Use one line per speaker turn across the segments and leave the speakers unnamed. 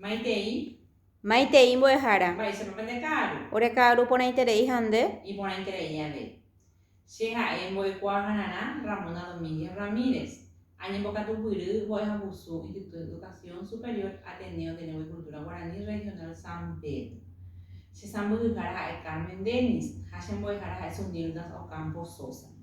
Maitei. Maitei mbo'ehára. Mba'éichapa pende ka'aru. Ore ka'aru porãiterei ha nde. Iporãiterei avei. Che ha'e mbo'ekuaahararã Ramona Domínguez Ramírez, añembokatupyry mbo'ehagusu Instituto de Educación Superior Ateneo de Lengua y Cultura Guaraní Regional San Pedro. Che sãmbyhyhára ha'e Carmen Dennis ha che mbo'ehára ha'e Zunilda Ocampo Sosa.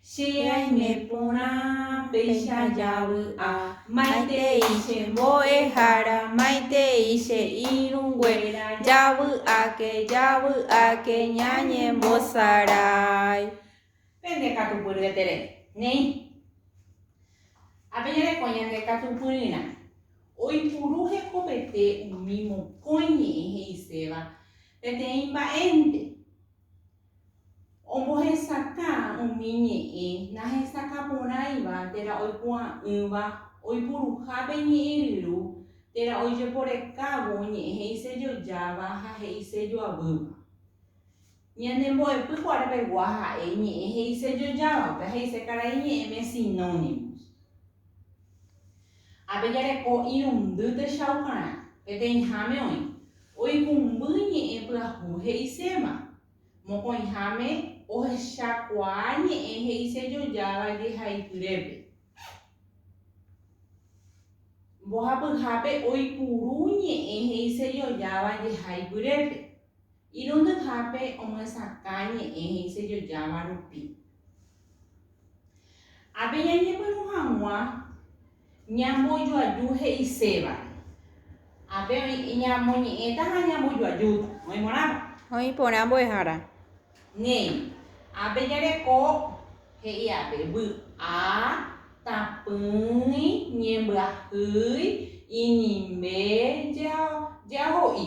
Che aime porã péicha javy'a. Maitei che mbo'ehára, maitei che irũnguéra, javy'áke, javy'áke ñañembosarái. Pende katupyry etere, neĩ. Ha peñareko ñande katupyryrã. Oipuru hekopete umi mokõi ñe'ẽ he'iséva peteĩ mba'énte. Ombohesakã umi ñe'ẽ nahesakã porãiva térã oipu'ã'ỹva oipuruha pe ñe'ẽ ryru térã oijeporekávo ñe'ẽ he'isejojáva ha he'isejoavýva. Ñane mbo'epy kuare pegua ha'e ñe'ẽ he'isejojávape ha he'ise karai ñe'ẽme sinónimos. Ha pejareko irundy techaukarã, peteĩháme oĩ, oikũmby ñe'ẽ pyahu he'iséva, mokõiháme ohechakuaa ñe'ẽ he'ise jojáva jehaipyrépe. Mbohapyhápe oipuru ñe'ẽ he'ise jojáva jehaipyrépe. Irundyhápe omyesakã ñe'ẽ he'isejojáva rupi. Ha peñañepyrũ hag̃ua ñambojoaju he'isevare. Ha pe oĩ ñamoñe'ẽta ha ñambojoajúta. Oĩ porãpa? Oĩ porã mbo'ehára. Néi. Ha pejareko he'i'ape vy'a, tapỹi, ñembyahýi, inimbe, ja, ja ho'i.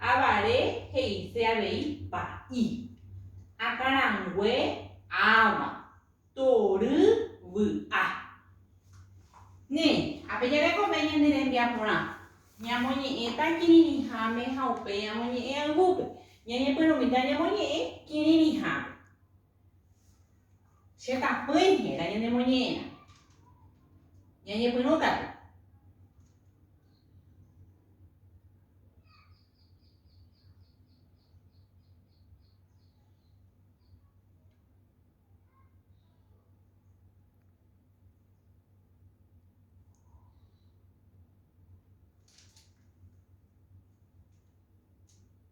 Avare he'ise avei pa'i. Akãrangue ãva. Tory vy'a. Néi, ape jarekove ñane rembiaporã, ñamoñe'ẽta kirirĩháme ha upéi amoñe'ẽ ayvúpe. Ñañepyrũmíta ñamoñe'ẽ kirirĩháme. Che tapỹi héra ñanemoñe'ẽrã. Ñañepyrũ katu.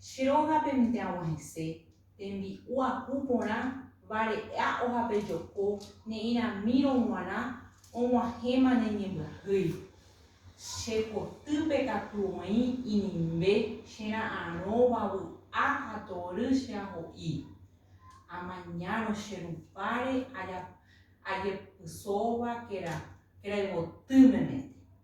Che rógape mitã agua hese, tembi'u aku porã, vare'a ohape joko, ne'ĩramírõ g̃uarã, og̃uahẽma ne ñembyahýi. Che kotýpe katu oĩ inimbe che ra'arõva vy'a ha tory che aho'i. Amañárõ che rupáre ajepysóva kerayvoty meménte.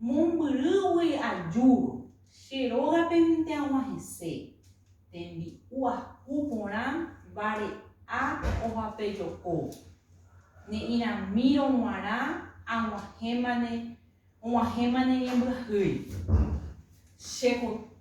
Mombyrýgui ajúvo, che rógapente aguã hese, tembi'u ahu porã vare'a ohapejoko. Ne'ĩramírõ g̃uarã aguahẽmane, og̃uahẽmane ñembyahýi. Che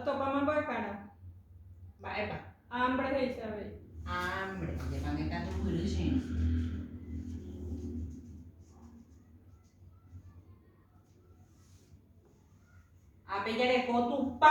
Otopáma mbyakara. Mba'épa? Ámbre he'ise avei. Ámbre. Ajepáme katu mbyry che irũ. Ápe jareko Tupã.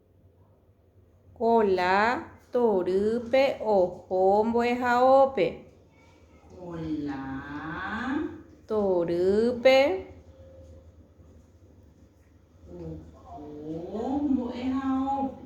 Kola torýpe oho mbo'ehaópe. Kola torýpe oho mbo'ehaópe.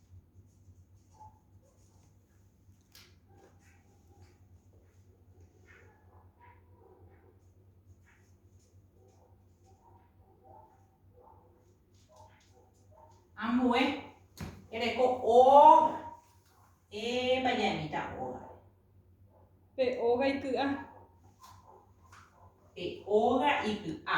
Ambue ereko óga. Épa ñaimíta óga. Pe óga iky'a. Pe óga iky'a.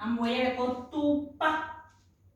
Ambuéia reko tupa.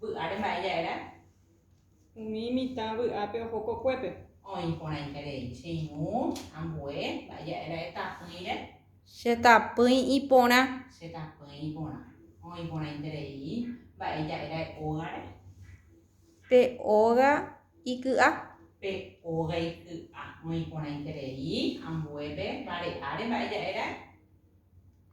Vy'áre mba'e ja'erã? Umi mitã vy'ápe oho kokuépe. Oĩ porãiha rei. Che irũ, ambue, mba'e ja'erã etapỹire? Che tapỹi iporã. Che tapỹi iporã. Oĩ porãite rei. Mba'e ja'erã e'ógare? Pe óga iky'a. Pe óga iky'a. Oĩ porãite rei. Ambuépe, vare'áre mba'e ja'erã?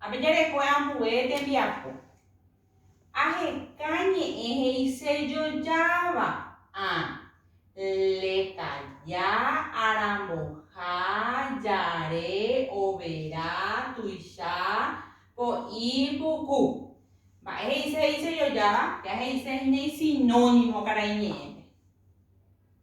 Ha pejarekue ambue tembiapo. Aheka ñe'ẽ he'ise jojáva, a, leka, ja, aramboha, jare, overa, tuicha, po'i, puku. Mba'e he'ise he'ise jojáva? Péa he'ise hína isinónimo karaiñe'ẽpe.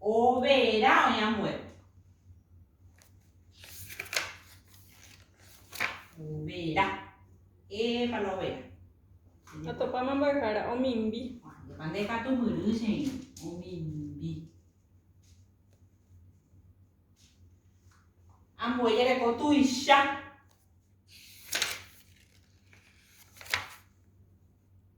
Overa oĩ ambue. Overa. Épa la overa. Atopáma mbo'ehára, omimbi. Ajépa nde katu myry che irũ. Omimbi. Ambue jereko tuicha.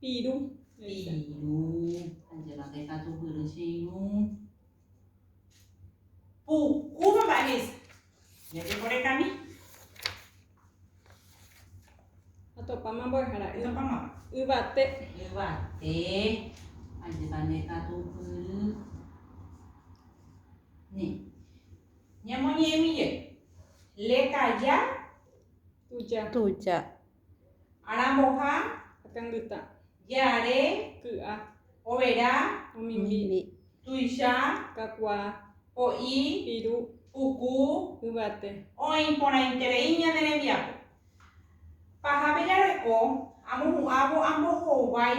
Piru. Piru. Ajépa pe katupyry che irũ. Pu'u mamá he'ise. Jajeporekami. Atopáma mbo'ehára. Atopáma. Yvate. Yvate. Ajépa nde katupyry. Ni. Ñamoñe'ẽmije. Lekaja. Tuja. Tuja. Aramboha. Akãngyta. Je'are. Ky'a. Overa. Omimbi. Tuicha. Kakuaa. Po'i. Piru. Puku. Yvate. Oĩ porãiterei ñane rembiapo. Pahápe jareko, amohu'ãvo ambohovái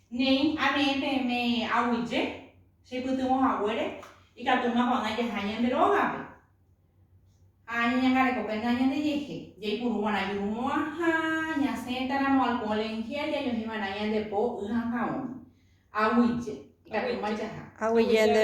Néi, ame'ẽ peẽme aguyje, che pytyvõ haguére, ikatu makuaagã jaha ñande rógape, ha ñañangareko penda ñandejehe, jaipuru va'erã jurumo'ãha, ñasẽta ramo alcohol en gel, jajohĩ va'erã ñande po, y ha ka'ũme. Aguyje, ikatúma jaha. Aguyje nde.